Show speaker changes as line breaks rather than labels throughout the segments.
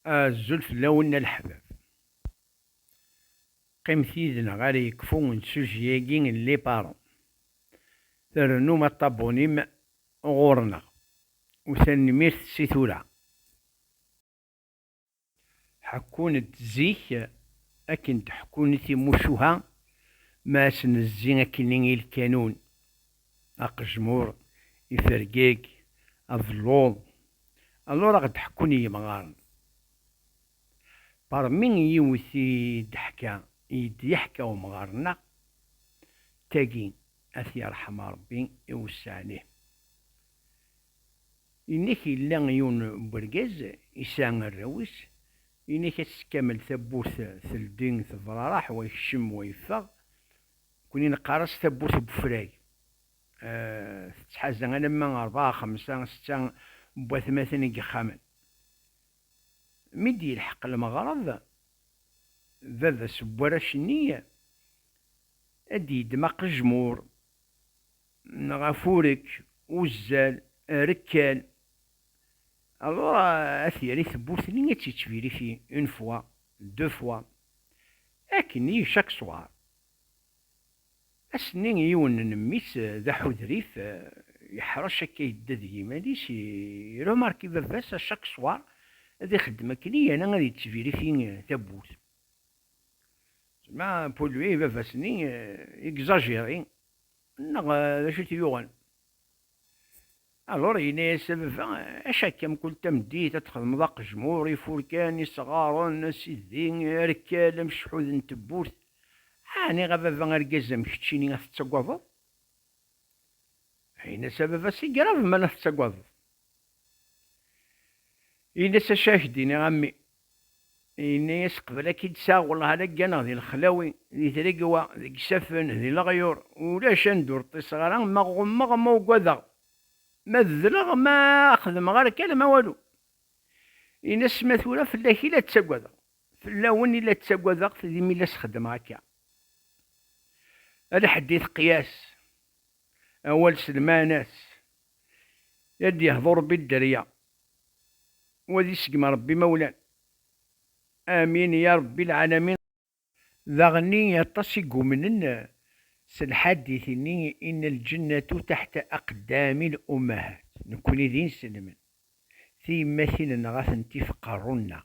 Azul fell-awen a leḥbab. Qqimet yid-neɣ ara yekfu nsuji-agi n Les Parents. Trennum aṭabuni-m ɣur-neɣ. U tanemmirt si tura. Ḥekkun-d zik akken d-ḥekkun timucuha ma asen-zzi akkenni i lkanun. Aqejmur ifergeg abelluḍ, alors a ɣ-d-ḥekkun yimɣaren. Parmi yiwet i d-teḥka, i d-yeḥka umɣar-nneɣ, d tagi, a t-yerḥem Rebbi, iwesseɛ-lih. Yenna-k yella yiwen n wergaz yesɛa arraw-is, yenna-k ass kamel tawwurt teldi tebraraḥ, wa yekcem, wa yeffeɣ, Nekkni neqqar-as tawwurt n wefrag. Tettḥaza alamma rebɛa, xemsa, setta n watmaten n yexxamen. Mi d-yelḥeq lmeɣreb, baba-s n warrac-nni ad d-yeddem aqejmur neɣ afurek, uzzal, rekkal, alors ad t-yerr i tewwurt-nni ad tt-yettbiriti une fois. Deux fois. Akken i chaque soir. Ass-nni yiwen n mmi-s d aḥudrif, yeḥṛec akka yedda deg yiman-is, i remarque baba-s à chaque soir ad ixeddem akken i yana ad yettvérifi tawwurt. Zma pour lui baba-s-nni exagéré neɣ d acu i t-yuɣen? Alors yenna-yas a baba, acu akka mkul tameddit ad txedmeḍ aqejmur, ifurkan, isɣaren, asidi, arekkal, amecḥud n tewwurt? Ɛni a baba argaz am keččini ad t-ttagadeḍ? Yenna-as a baba, c'est grave ma la tettagadeḍ. Yenna-as acu ad ak-d-iniɣ a mmi, Yenna-yas, Qbel ad k-id-sɛeɣ, wellah ad ak-ganeɣ di lexlawi, di tregwa, deg isaffen, di leɣyur, ulac anda ur ṭṭiseɣ ara, ma ɣummeɣ, ma ugadeɣ, ma dleɣ, ma xedmeɣ ara akka alamma walu. Yenna-as, Ma tura fell-ak i la ttagadeɣ, fell-awen i la ttagadeɣ, d imi la s-xeddmeɣ akka. Ala ḥedd i teqyas, awal s lmeɛna-s, i ad d-yehḍu Rebbi dderya. Wali seg mrebbi ma wlan. Amin ya rebbi lɛalamin. Daɣenni aṭas i yumnen s lḥadit-nni inna lǧennatu taḥta aqeddami n ummahat, nekkni d inselmen, tiyemmatin-nneɣ a tent-if qerru-nneɣ.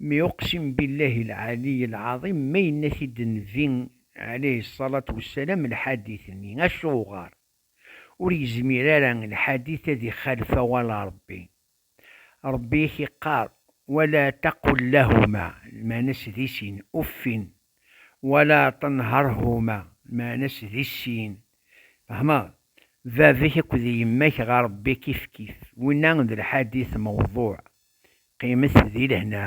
Mi uqsim billahi lɛaliy lɛaḍim ma yenna-t-id Nnbi ɛalayhi ṣṣalat wessalam lḥadit-nni, acuɣer? Ur yezmir ara lḥadit ad ixalef awal Ṛebbi. Ṛebbi i k-iqqar, Wala taqul lahuma, lmeɛna-s di sin, uffin! Wala tenharhuma, lmeɛna-s di sin, tfehmeḍ? Baba-k akked yemma-k ɣer Ṛebbi kifkif. Winna d lḥadit mewḍuɛ. Qqimet di lehna.